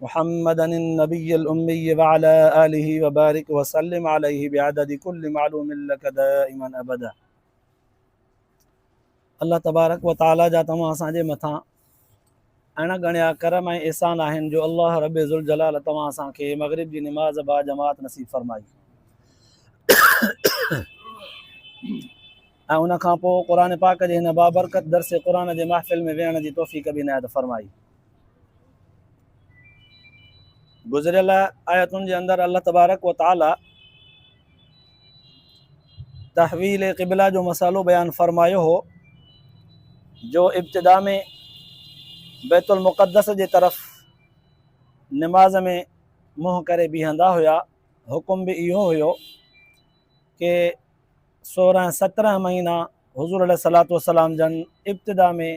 محمدا النبي الامي وعلي اله وبارک وسلم عليه بعدد كل معلوم لك دائما ابدا الله تبارڪ وتعالي جا توهان اسان جي مٿان اڻ ڳڻيا ڪرم ۽ احسان آهن جو الله رب ذوالجلال توهان اسان کي مغرب جي نماز با جماعت نصيب فرمائي ۽ ان کان پوء قرآن پاڪ جي هن بابرڪت درس قرآن جي محفل ۾ ويهڻ جي توفيق به عنايت فرمائي گذريل آيتن جي اندر الله تبارڪ و تعالي تحويل قبله جو مسئلو بيان فرمايو هو جو ابتدا ۾ بيت المقدس جي طرف نماز ۾ منهن ڪري بيهندا هيا حڪم به اهو هيو کہ سورهن سترهن مهينا حضور عليه صلاحت وسلام جن ابتدا ۾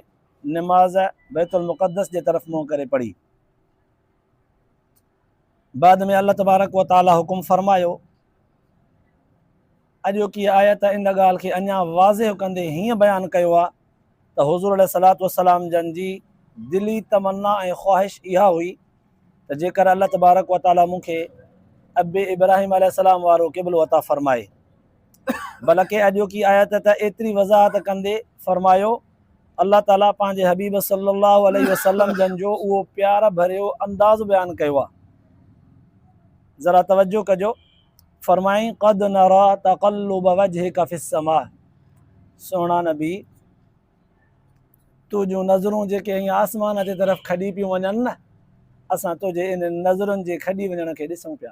نماز بيت المقدس جي طرف منهن ڪري پڙهي. بعد ۾ الله تبارڪ و تعالي حڪم فرمايو. اڄوڪي آيت ان ڳالهه کي اڃا واضح ڪندي هيئن بيان ڪيو آهي ته حضور عليه الصلوة والسلام جن جي دلي تمنا ۽ خواهش اها هئي ته جيڪر الله تبارڪ و تعالي مون کي ابي ابراهيم عليه السلام وارو قبلو عطا فرمائي بلڪه اڄوڪي آيت ته ايتري وضاحت ڪندي فرمايو الله تعالي پنهنجي حبيب صلي الله عليه وسلم جن جو اهو پيار ڀريو انداز بيان ڪيو آ ذرا توجه ڪجو فرمائي قد نرا تقلب وجهك في السماء سونا نبي تو جو نظرون جي ڪي آسمان جي طرف کڏي پيو ونن نه اسان تو جي ان نظرن جي کڏي ونن کي ڏسون پيا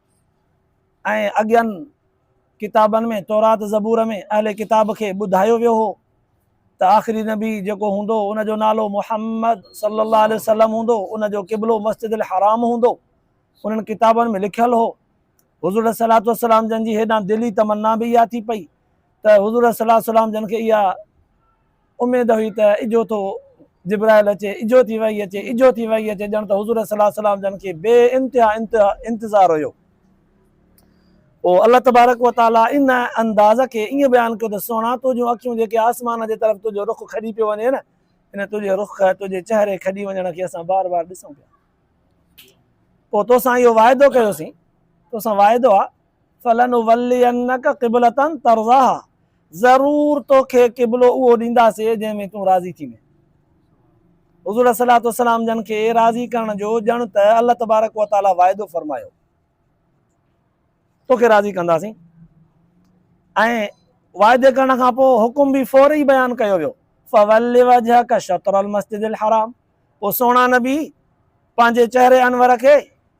۽ اڳين ڪتابن ۾ تورات زبور ۾ اهل ڪتاب کي ٻڌايو ويو هو ته آخري نبي جيڪو هوندو ان جو نالو محمد صلي الله عليه وسلم هوندو ان جو قبلو مسجد الحرام هوندو انهن ڪتابن ۾ لکيل هو حضور صلي الله وسلم جن جي هيڏان دلي تمنا به اها ٿي پئي ته حضور صلي الله وسلم جن کي اها اميد هئي ته اجهو ٿو جبرائيل اچي، اجهو ٿي وحي اچي، اجهو ٿي وحي اچي، ڄڻ ته حضور صلي الله عليه وسلم جن کي بي انتها انتظار هيو. پوء الله تبارڪ و تعاليٰ ان انداز کي ائين بيان ڪيو ته سهڻا تنهنجون اکيون جيڪي آسمان جي طرف تنهنجو رخ کڄي پيو وڃي نه، يعني تنهنجي رخ، تنهنجي چهري کڄي وڃڻ کي اسان بار بار ڏسون پيا. پوء توسان اهو واعدو ڪيوسين، توسان واعدو آ. فلنولينک قبلة ترضاها ضرور توکي قبلو اهو ڏينداسين جنهن ۾ تون راضي ٿينء. حضور عليه الصلوة والسلام جن کي راضي ڪرڻ جو ڄڻ ته الله تبارڪ وتعاليٰ واعدو فرمايو. توکي راضي ڪنداسين ۽ واعدي ڪرڻ کان پوء حڪم به فوري بيان ڪيو ويو فول وجهک شطر المسجد الحرام پوء سهڻا نبي پنهنجي چهري انور کي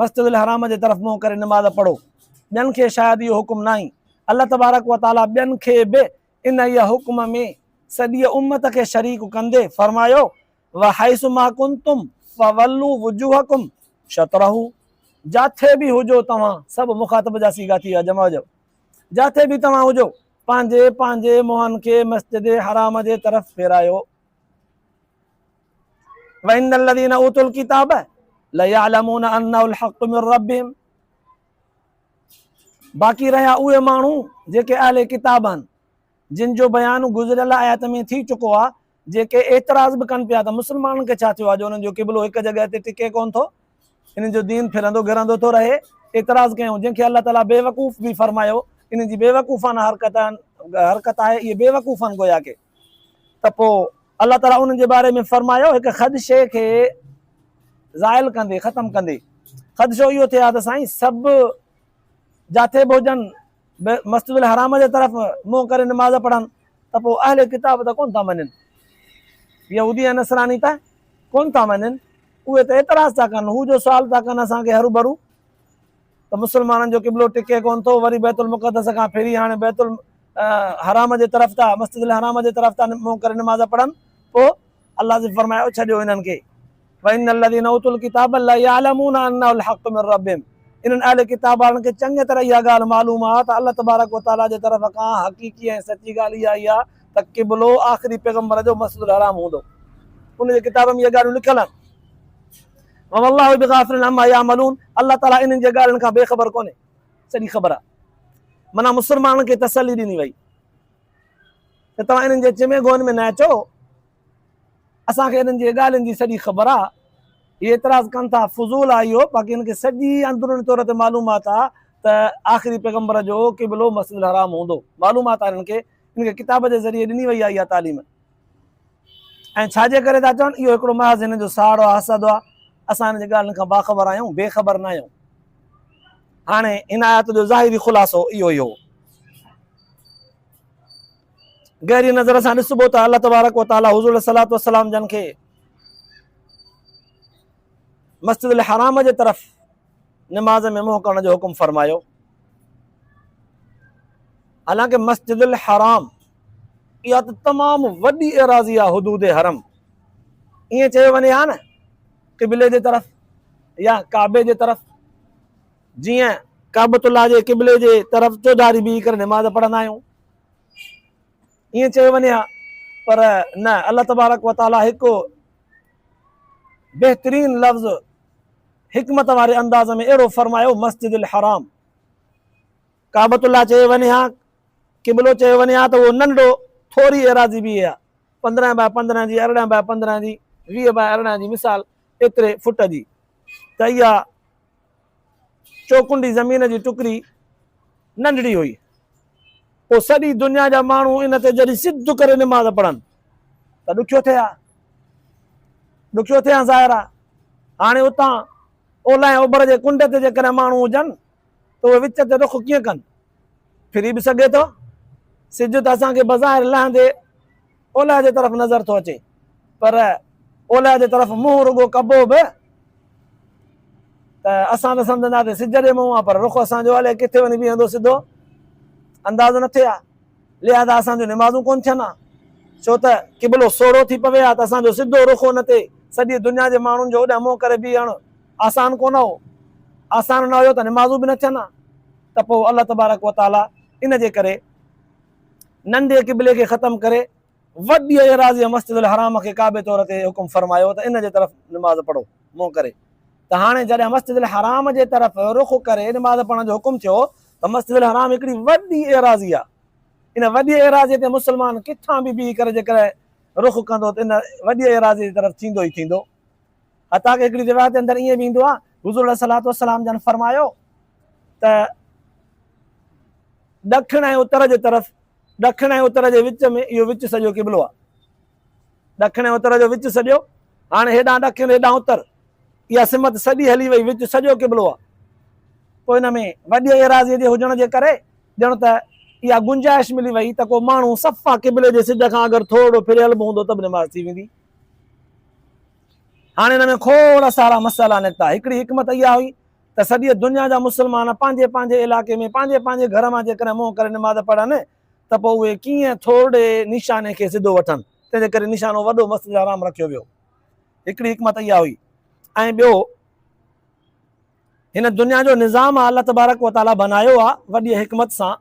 مسجد الحرام جي طرف منهن ڪري نماز پڙهو، ٻين کي شايد اهو حڪم ناهي، الله تبارڪ و تعاليٰ ٻين کي به انهيء حڪم ۾ سڄيء امت کي شريڪ ڪندي فرمايو، وحيث ما ڪنتم فولوا وجوهکم شطره جاٿي به هجو توهان، سڀ مخاطب جا صيغا ٿي ويا جمع جو، جاٿي به توهان هجو، پنهنجي پنهنجي منهن کي مسجد حرام جي طرف ڦيرايو. وان الذين اوتوا الكتاب ليعلمون انه الحق من ربهم باقي رهيا اهي ماڻهو جيڪي اهل ڪتاب آهن جن جو بيان گذريل آيات ۾ ٿي چڪو آهي جيڪي اعتراض به ڪن پيا ته مسلمانن کي ڇا ٿيو آهي جو انهن جو قبلو هڪ جڳهه تي ٽڪي ڪون ٿو انهن جو دين ڦرندو گهرندو ٿو رهي اعتراض ڪيون جن کي الله تعالیٰ بي وقوف به فرمايو انهن جي بي وقوفانه حرڪت حرڪت آهي اهي بي وقوفن گويا ڪي ته پوء الله تعالي انهن جي باري ۾ فرمايو، هڪ خدشي کي زائل ڪندي، ختم ڪندي، خدشو اهو ٿئي ها ته سائين سڀ جاٿي به هجن مسجد الحرام جي طرف منهن ڪري نماز پڙهن ته پوء اهل ڪتاب ته ڪونه ٿا مڃن، يهودي ۽ نصراني ته ڪونه ٿا مڃن، اهي ته اعتراض ٿا ڪن، هو جو سوال ٿا ڪن اسان کي هروڀرو، ته مسلمانن جو قبلو ٽڪي ڪونه ٿو وري بيت المقدس کان ڦري هاڻي بيت الحرام جي طرف ٿا مسجد الحرام جي طرف ٿا منهن ڪري نماز پڙهن پوء الله جي فرمايو ڇڏيو انهن کي وان الذين اوتوا الكتاب لا يعلمون انه الحق من ربهم انهن اهل ڪتاب وارن کي چڱي طرح اها ڳالهه معلوم آهي ته الله تبارڪ وتعاليٰ جي طرف کان حقيقي ۽ سچي ڳالهه اها ئي آهي ته قبلو آخري پيغمبر جو مسجد الحرام هوندو ان جي ڪتاب ۾ اهي ڳالهيون لکيل آهن وما الله بغافل عما يعملون الله تعالي انهن جي ڳالهين کان بي خبر ڪونهي سڄي خبر آهي معنيٰ مسلمانن کي تسلي ڏني وئي ته توهان انهن جي چمي گوئن ۾ نه اچو اسان کي انهن جي ڳالهين جي سڄي خبر آهي هي اعتراض ڪن ٿا فضول آهي اهو باقي هن کي سڄي اندروني طور تي معلومات آهي ته آخري پيغمبر جو قبلو مسجد الحرام هوندو معلومات آهي هن کي هن کي ڪتاب جي ذريعي ڏني وئي آهي اها تعليم ۽ ڇا جي ڪري ٿا چون؟ اهو هڪڙو محض هنن جو ساڙو حسد آ. اسان هنن جي ڳالهين کان باخبر آهيون، بي خبر ناهيون. هاڻي هن آيت جو ظاهري خلاصو اهو ئي هو. گهريء نظر سان ڏسبو ته الله تبارڪ و تعاليٰ حضور عليه الصلوة والسلام جن کي مسجد الحرام جي طرف نماز ۾ منهن ڪرڻ جو حڪم فرمايو. حالانڪه مسجد الحرام اها ته تمام وڏي ايراضي آهي حدود حرم ائين چيو وڃي ها نه قبلي جي طرف يا ڪعبي جي طرف جيئن ڪعبت الله جي قبلي جي طرف چوڌاري بيهي ڪري نماز پڙهندا آهيون ائين چيو وڃي ها پر نه الله تبارڪ وتعالي هڪ بهترين لفظ حڪمت واري انداز ۾ اهڙو فرمايو مسجد الحرام ڪعبت الله چيو وڃي ها قبلو چيو وڃي ها ته اهو ننڍو ٿوري ايراضي به اها پندرهن باء پندرهن جي ارڙهن باء پندرهن جي ويهه باء ارڙهن جي مثال ايتري فٽ جي ته اها چوڪنڊي زمين جي ٽڪري ننڍڙي هئي. پوء سڄي دنيا جا ماڻهو ان تي جڏهن سڌ ڪري نماز پڙهن ته ڏکيو ٿئي ها. ڏکيو ٿئي ها ظاهر آهي. هاڻي اتان اولهه ۽ اوڀر جي ڪنڊ تي جيڪڏهن ماڻهو هجن ته اهي وچ تي رخ ڪيئن ڪن؟ ڦري به سگهي ٿو. سج ته اسان کي بظاهر لهندي اولهه جي طرف نظر ٿو اچي پر اولهه جي طرف منهن رڳو ڪبو به ته اسان ته سمجهنداسين سج ڏي منهن آ پر رخ اسان جو الائي ڪٿي وڃي بيهندو سڌو اندازو نه ٿئي آ لهذا اسان جون نمازون ڪون ٿين آ ڇو ته قبلو سوڙهو ٿي پوي آ ته اسان جو سڌو رخ ان تي سڄي دنيا جي ماڻهن جو اوڏانهن منهن ڪري بيهڻ آسان ڪونه هو، آسان نه هيو ته نمازون به نه ٿين ها ته پوء الله تبارڪ و تعاليٰ ان جي ڪري ننڍي قبلي کي ختم ڪري وڏي ايراضي مسجد الحرام کي ڪعبي طور تي حڪم فرمايو ته ان جي طرف نماز پڙهو منهن ڪري ته هاڻي جڏهن مسجد الحرام جي طرف رخ ڪري نماز پڙهڻ جو حڪم ٿيو ته مسجد الحرام هڪڙي وڏي ايراضي آهي ان وڏي ايراضي تي مسلمان ڪٿان به بيهي ڪري جيڪڏهن رخ ڪندو ته ان وڏي ايراضي جي طرف ٿيندو ئي ٿيندو. حتيٰ ڪه هڪڙي روايت جي اندر ائين به ايندو آهي، حضور عليه الصلوة والسلام جن فرمايو ته ڏکڻ ۽ اتر جي طرف، ڏکڻ ۽ اتر جي وچ ۾ اهو وچ سڄو قبلو آهي. ڏکڻ ۽ اتر جو وچ سڄو، هاڻي هيڏانهن ڏکڻ هيڏانهن اتر، اها سمت سڄي هلي وئي، وچ سڄو قبلو آهي. پوء ان ۾ وڏيء ايراضيء جي هجڻ جي ڪري ڄڻ ته اها گنجائش ملي وئي ته ڪو ماڻهو صفا قبلي جي سج کان اگر ٿورڙو ڦري هلبو هوندو ته به نماز ٿي ويندي. هاڻي ان ۾ کوڙ سارا مسئلا نڪتا. هڪڙي حڪمت اها هئي ته سڄيء دنيا جا مسلمان پنهنجي پنهنجي علائقي ۾ پنهنجي پنهنجي گهر مان جيڪڏهن منهن ڪري نماز پڙهن ته پوء اهي ڪيئن ٿورڙي نيشاني کي سڌو وٺن، تنهن جي ڪري نيشانو وڏو مسجد الحرام رکيو ويو. هڪڙي حڪمت اها هئي ۽ ٻيو هن دنيا جو نظام الله تبارڪ وتعاليٰ بنايو آهي وڏيء حڪمت سان.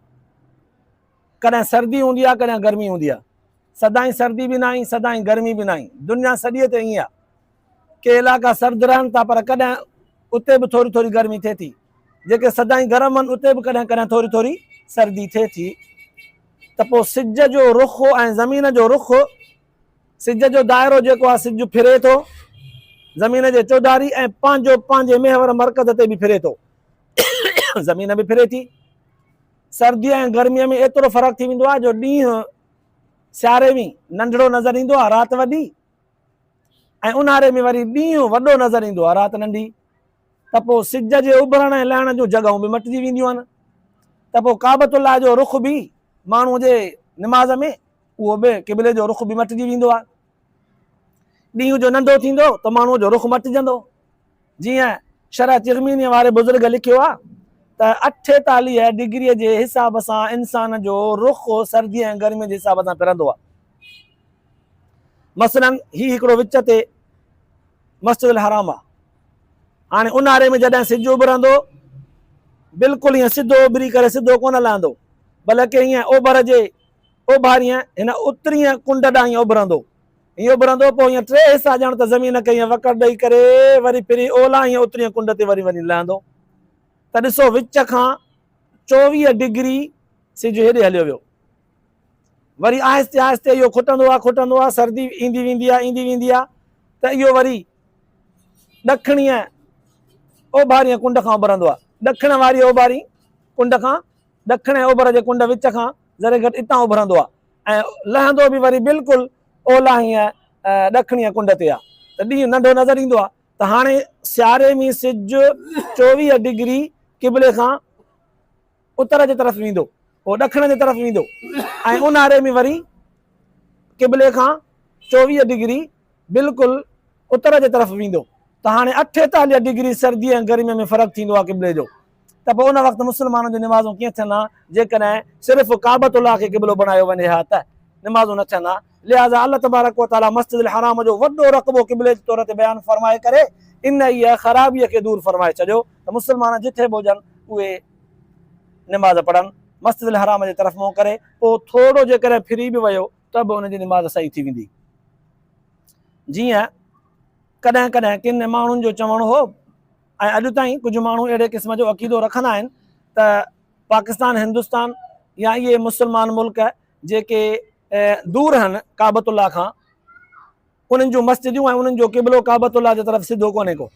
ڪڏهن سردي هوندي آهي ڪڏهن گرمي هوندي آهي سدائين سردي به ناهي سدائين گرمي به ناهي دنيا سڄيء تي ائين آهي ڪي علائقا سرد رهن ٿا پر ڪڏهن اتي به ٿوري ٿوري گرمي ٿئي ٿي جيڪي سدائين گرم آهن اتي به ڪڏهن ڪڏهن ٿوري ٿوري سردي ٿئي ٿي ته پوء سج جو رخ ۽ زمين جو رخ سج جو دائرو جيڪو آهي سج ڦري ٿو زمين جي چوڌاري ۽ پنهنجو پنهنجي محور مرڪز تي به ڦري ٿو زمين به ڦري ٿي سرديء ۽ گرميء ۾ ايترو فرق ٿي ويندو آهي جو ڏينهن سياري ۾ ننڍڙو نظر ايندو آهي رات وڏي ۽ اونهاري ۾ وري ڏينهن وڏو نظر ايندو آهي رات ننڍي ته پوء سج جي اڀرڻ ۽ لهڻ جون جڳهون به مٽجي وينديون آهن ته پوء ڪعبت الله جو رخ به ماڻهو جي نماز ۾ اهو به قبلي جو رخ به مٽجي ويندو آهي ڏينهن جو ننڍو ٿيندو ته ماڻهوء جو رخ مٽجندو. جيئن شرح ترمينيء واري بزرگ لکيو آهي ته اٺيتاليهه ڊگريء جي حساب سان انسان جو رخ سرديء ۽ گرميء جي حساب سان ڦرندو آهي. مثلاً هي هڪڙو وچ تي مسجد الحرام آهي. هاڻي اونهاري ۾ جڏهن سج اڀرندو، بلڪل ائين سڌو اڀري ڪري سڌو ڪونه لهندو، بلڪ ائين اوڀر جي اوڀارينء هن اترينء ڪنڊ ڏانهن اڀرندو ائين اڀرندو، پوء ائين ٽي حصا ڄڻ ته زمين کي ائين وڪڙ ڏئي ڪري وري ڦري اولهه ائين اترينء ڪنڊ تي وري وڃي لهندو ته ڏسو وچ کان چوويهه ڊگري سج هيڏي هليو ويو. وري آهستي آهستي اهو کٽندو آ کٽندو آ سردي ايندي ويندي آ ايندي ويندي آ ته اهو وري ڏکڻينء اوڀارينء ڪنڊ کان اڀرندو آ ڏکڻ واريء اوڀارينء ڪنڊ کان ڏکڻ ۽ اوڀر جي ڪنڊ وچ کان ذري گهٽ اتان اڀرندو آ ۽ لهندو به وري بلڪل اولاهين ۽ ڏکڻيء ڪنڊ تي آ ته ڏينهن ننڍو نظر ايندو آ ته هاڻي سياري ۾ سج چوويهه ڊگري قبلي کان اتر جي طرف ويندو پوء ڏکڻ جي طرف ويندو ۽ اونهاري ۾ وري قبلي کان چوويهه ڊگري بلڪل اتر جي طرف ويندو ته هاڻي اٺيتاليهه ڊگري سرديء ۽ گرميء ۾ فرق ٿيندو آ قبلي جو ته پوء ان وقت مسلمانن جون نمازون ڪيئن ٿين ها جيڪڏهن صرف ڪعبة الله کي قبلو بڻايو وڃي ها ته نمازون نه ٿين ها لهذا الله تبارڪ وتعالي مسجد الحرام جو وڏو رقبو قبلي جي طور تي بيان فرمائي ڪري انهيء خرابيء کي دور فرمائي ڇڏيو ته مسلمان جتي به هجن اهي نماز پڙهن مسجد الحرام جي طرف منهن ڪري پوء ٿورو جيڪڏهن ڦري به ويو ته به ان جي نماز صحيح ٿي ويندي جيئن ڪڏهن ڪڏهن ڪن ماڻهن جو چوڻ هو ۽ اڄ تائين ڪجهه ماڻهو اهڙي قسم جو عقيدو رکندا آهن ته پاڪستان هندستان يا اهي مسلمان ملڪ جيڪي دور هن ڪعبت الله کان انهن جون مسجدون ۽ انهن جو قبلو ڪعبت الله جي طرف سڌو ڪونهي ڪو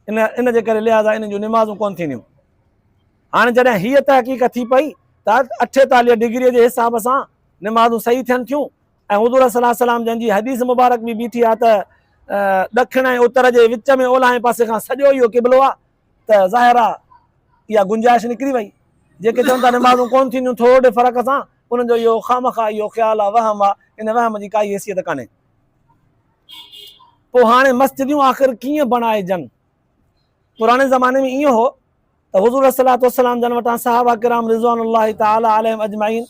ان ان جي ڪري لحاظا انهن جون نمازون ڪون ٿينديون هاڻي جڏهن هيء تحقيق ٿي پئي ته اٺيتاليهه ڊگريء جي حساب سان نمازون صحيح ٿين ٿيون ۽ حضور صلي الله عليه وسلم جن جي حديث مبارڪ به بيٺي آهي ته ڏکڻ ۽ اتر جي وچ ۾ اولهائين پاسي کان سڄو اهو قبلو آهي ته ظاهر آهي اها گنجائش نڪري وئي جيڪي چون ٿا نمازون ڪون ٿينديون ٿورڙي فرق سان انهن جو اهو خامخا اهو خيال آهي وهم آهي ان وهم جي ڪائي حيثيت ڪانهي پوء هاڻي مسجديون آخر ڪيئن بڻائجن پراڻي زماني ۾ ائين هو ته حضور صلاحت وسلام جن وٽان صحابه ڪرام رضوان الله تعالی عليم اجمعين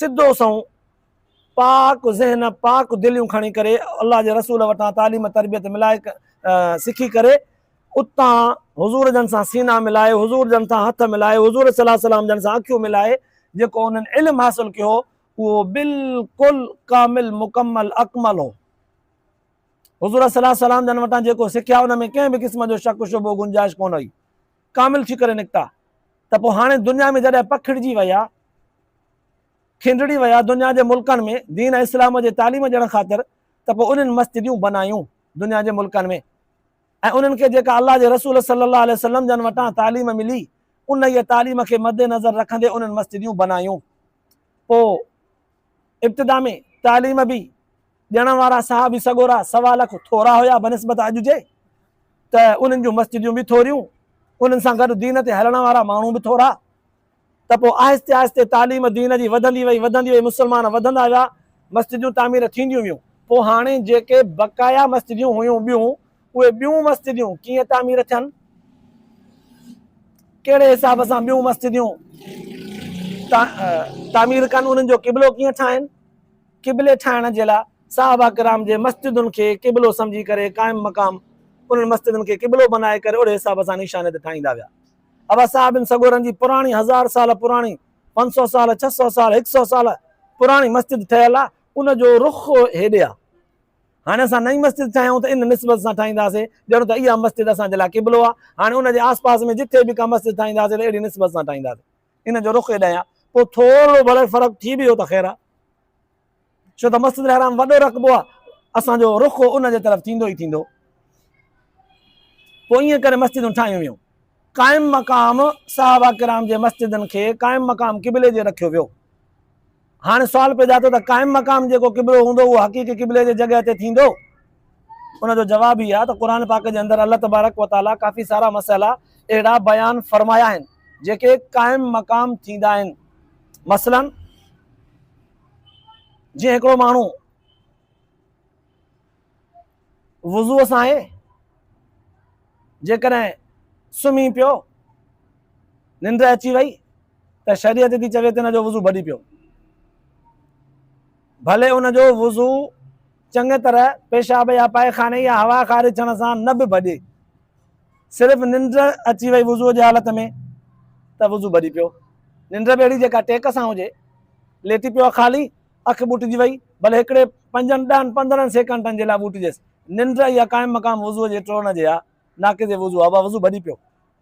سڌو سون پاڪ ذهن، پاڪ دليون کڻي ڪري الله جي رسول وٽان تعليم تربيت ملائي سکي ڪري اتان حضور جن سان سينا ملائي حضور جن سان هٿ ملائي حضور صلي الله عليه وسلم جن سان اکيون ملائي جيڪو انهن علم حاصل ڪيو اهو بالڪل ڪامل مڪمل اڪمل هو حضور صلي الله عليه وسلم جن وٽان جيڪو سکيا ان ۾ ڪنهن به قسم جو شڪ شبو گنجائش ڪونه هئي ڪامل ٿي ڪري نڪتا ته پوء هاڻي دنيا ۾ جڏهن پکڙجي ويا کنڊڙي ويا دنيا جي ملڪن ۾ دين ۽ اسلام جي تعليم ڏيڻ خاطر ته پوء انهن مسجديون بنايون دنيا جي ملڪن ۾ ۽ انهن کي جيڪا الله جي رسول صلي الله عليه وسلم جن وٽان تعليم ملي انهيء تعليم کي مدنظر رکندي انهن مسجديون بنايون پوء ابتدا ۾ تعليم به ڏيڻ وارا صحابي سڳورا سوا لک ٿورا هيا بنسبت اڄ جي ته انهن جون مسجديون به ٿوريون انهن سان گڏ دين تي هلڻ وارا ماڻهو به ٿورا ته پوء آهستي آهستي تعليم دين جي وڌندي وئي وڌندي وئي مسلمان وڌندا ويا مسجدون تعمير ٿينديون ويون پوء هاڻي جيڪي بقايا مسجدون هيون ٻيون اهي ٻيون مسجدون ڪيئن تعمير ٿين ڪهڙي حساب سان ٻيون مسجدون تعمير ڪن انهن جو قبلو ڪيئن ٺاهن قبلي ٺاهڻ جي لاء صحابه کرام جي مسجدن کي قبلو سمجهي ڪري قائم مقام انهن مسجدن کي قبلو بنائي ڪري اهڙي حساب سان نشاني ته ٺاهيندا ويا ابا صاحب ان سڳورن جي پراڻي هزار سال پراڻي، پنج سؤ سال، ڇهه سؤ سال، هڪ سؤ سال پراڻي مسجد ٺهيل آ، ان جو رخ هيڏي آ. هاڻي اسان نئين مسجد ٺاهيون ته ان نسبت سان ٺاهينداسين ڄڻ ته اها مسجد اسان جي لاء قبلو آ. هاڻي ان جي آسپاس ۾ جتي به ڪا مسجد ٺاهينداسين ته اهڙي نسبت سان ٺاهينداسين. ان جو رخ هيڏانهن آ. پوء ٿورڙو ڀلي فرق ٿي به ويو ته خير آ. ڇو ته مسجد الحرام وڏو رقبو آهي، اسان جو رخ ان جي طرف ٿيندو ئي ٿيندو. پوء ائين ڪري مسجدون ٺاهيون ويون. قائم مقام صحابه ڪرام جي مسجدن کي قائم مقام قبلي جي رکيو ويو. هاڻي سوال پيدا ٿيو ته قائم مقام جيڪو قبلو هوندو اهو حقيقي قبلي جي جڳهه تي ٿيندو؟ ان جو جواب هي آهي ته قرآن پاڪ جي اندر الله تبارڪ و تعاليٰ ڪافي سارا مسئلا اهڙا بيان فرمايا آهن جيڪي قائم مقام ٿيندا آهن. مثلاً. جيئن هڪڙو ماڻهو وضوء سان آهي جيڪڏهن سمهي پيو ننڊ اچي وئي ته شريعت ٿي چوي ته هن جو وضو ڀڏي پيو ڀلي ان جو وضو چڱيء طرح پيشاب يا پائخاني يا هوا خارج ٿيڻ سان نه به ڀڄي. صرف ننڊ اچي وئي وضوء جي حالت ۾ ته وضو ڀڄي پيو. ننڊ به اهڙي جيڪا ٽيڪ سان هجي. ليٽي پيو آ خالي، اک ٻوٽجي وئي، ڀلي هڪڙي، پنجن، ڏهن، پندرهن سيڪنڊن جي لاء ٻوٽجيس. ننڊ اها قائم مقام وضوء جي ٽوڙڻ جي آ، ناقض وضو آ، اها وضو ڀڄي پيو.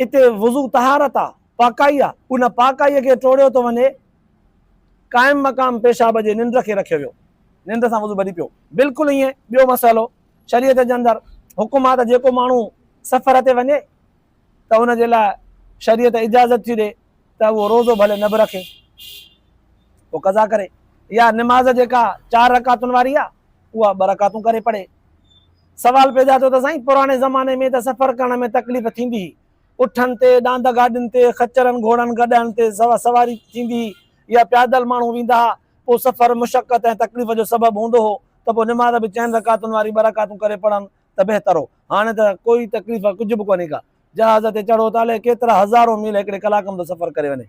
اتي وضو طهارت آ، پاڪائي آ، ان پاڪائي کي ٽوڙيو ٿو وڃي، قائم مقام پيشاب جي ننڊ کي رکيو ويو، ننڊ سان وضو ٻري پيو، بلڪل ائين ٻيو مسئلو شريعت جي اندر حڪم آ ته جيڪو ماڻهو سفر تي وڃي ته ان جي لاء شريعت اجازت ٿي ڏي ته اهو روزو ڀلي نه به رکي پوء قضا ڪري يا نماز جيڪا چار رڪعتن واري آ اها ٻه رڪعتون ڪري پڙهي سوال پيدا ٿيو ته سائين پراڻي زماني ۾ ته سفر ڪرڻ ۾ تڪليف ٿيندي هئي، اٺن تي، ڏاند گاڏين تي، خچرن، گهوڙن، گڏهن تي سواري ٿيندي هئي يا پيادل ماڻهو ويندا ها، پوء سفر مشقت ۽ تڪليف جو سبب هوندو هو ته پوء نماز به چئن رڪعتن واري ٻه رڪعتون ڪري پڙهن ته بهتر هو، هاڻي ته ڪوئي تڪليف ڪجهه به ڪونهي ڪا، جهاز تي چڙهو ته الائي ڪيترا هزارون ميل هڪڙي ڪلاڪ ۾ ٿو سفر ڪري وڃي.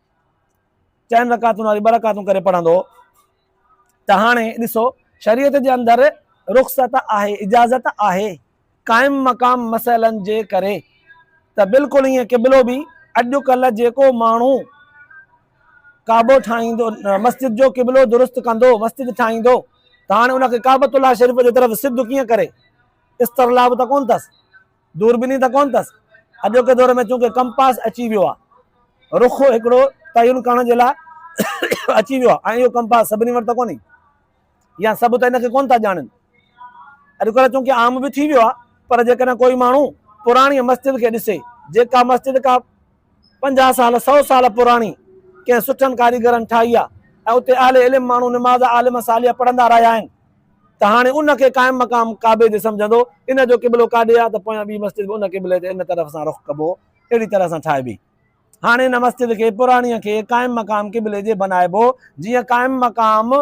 چئن رڪعتن واري ٻه رڪعتون ڪري پڙهندو هو ته هاڻي ڏسو شريعت جي اندر رخصت آهي اجازت آهي قائم مقام مسئلن جي ڪري ته بلڪل ائين قبلو به اڄڪلھ جيڪو ماڻهو ڪعبو ٺاهيندو مسجد جو قبلو درست ڪندو مسجد ٺاهيندو ته هاڻي ان کي ڪعبت الله شريف جي طرف سڌ ڪيئن ڪري استرلاب ته ڪون اٿس دوربيني ته ڪونه اٿس. اڄوڪي دور ۾ چونڪه ڪمپاس اچي ويو آهي. رخ هڪڙو تعين ڪرڻ جي لاء اچي ويو آهي ۽ اهو ڪمپاس سڀني وٽ ته ڪونهي يا سڀ ته ان کي ڪونه ٿا ڄاڻن. اڄڪلهه چونڪه عام به ٿي ويو آهي پر جيڪڏهن ڪوئي ماڻهو پراڻيء مسجد کي ڏسي، جيڪا مسجد ڪا. پنجاهه سال، سؤ سال پراڻي ڪنهن سٺن ڪاريگرن ٺاهي آهي ۽ اتي اهل علم ماڻهو نماز عالم صالح پڙهندا رهيا آهن ته هاڻي ان کي قائم مقام ڪعبي جي سمجهندو، ان جو قبلو ڪاڏي آهي ته پويان ٻي مسجد به ان قبلي تي ان طرف سان رخ ڪبو اهڙي طرح سان ٺاهبي. هاڻي ان مسجد کي پراڻيء کي قائم مقام قبلي جي بنائبو جيئن قائم مقام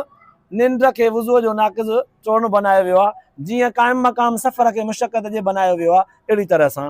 ننڊ کي وضوء جو ناقض چورڻ بنايو ويو آهي، جيئن قائم مقام سفر کي مشقت جي بنايو ويو آهي اهڙي طرح سان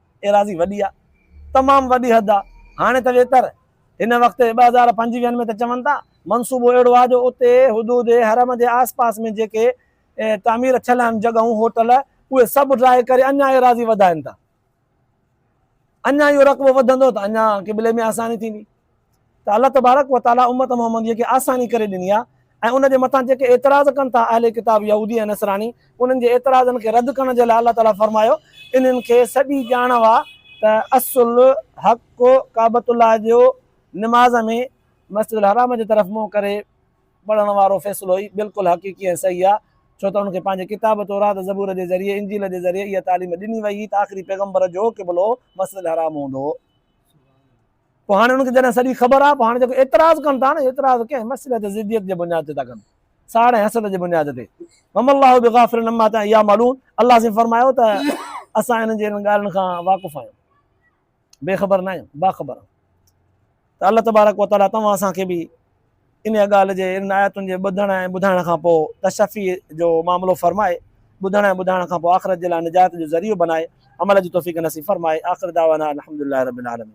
ايراضي وڏي آ تمام وڏي حد آ هاڻي ته ويتر هن وقت ٻه هزار پنجويهن ۾ ته چون ٿا منصوبو اهڙو آ جو اتي حدود حرم جي آس پاس ۾ جيڪي تعمير ٿيل آهن جڳهون هوٽل اهي سڀ ڊرائي ڪري اڃا ايراضي وڌائن ٿا اڃا اهو رقبو وڌندو ته اڃا قبلي ۾ آساني ٿيندي. ته الله تبارڪ و تعاليٰ امّت محمّديّ کي آساني ڪري ڏني آهي ۽ ان جي مٿان جيڪي اعتراض ڪن ٿا اهل ڪتاب يهودي ۽ نصراني انهن جي اعتراضن کي رد ڪرڻ جي لاء الله تعاليٰ فرمايو انهن کي سڄي ڄاڻ هئا ته اصل حق ڪعبت الله جي نماز ۾ مسجد الحرام جي طرف منهن ڪري پڙهڻ وارو فيصلو ئي بلڪل حقيقي ۽ صحيح آهي ڇو ته انهن کي پنهنجي ڪتاب تورات زبور جي ذريعي انجيل جي ذريعي اها تعليم ڏني وئي هئي ته آخري پيغمبر جو قبلو مسجد الحرام هوندو هو. پوء هاڻي انهن کي جڏهن سڄي خبر آ، پوء هاڻي جيڪو اعتراض ڪن ٿا نه، اعتراض ڪنهن مسئلي تي ضديت جي بنياد تي ٿا ڪن، ساڙ ۽ حسد جي بنياد تي. وما الله بغافل عما يعملون الله سائين فرمايو ته اسان انهن جي انهن ڳالهين کان واقف آهيون، بي خبر نه آهيون، باخبر آهيون. ته الله تبارڪ و تعاليٰ توهان اسان کي به انهيء ڳالهه جي، انهن آيتن جي ٻڌڻ ۽ ٻڌائڻ کان پوء تشفيء جو معاملو فرمائي، ٻڌڻ ۽ ٻڌائڻ کان پوء آخرت جي لاء نجات جو ذريعو بنائي، عمل جي توفيق نصيب فرمائي. آخر دعوانا ان الحمد لله رب العالمين.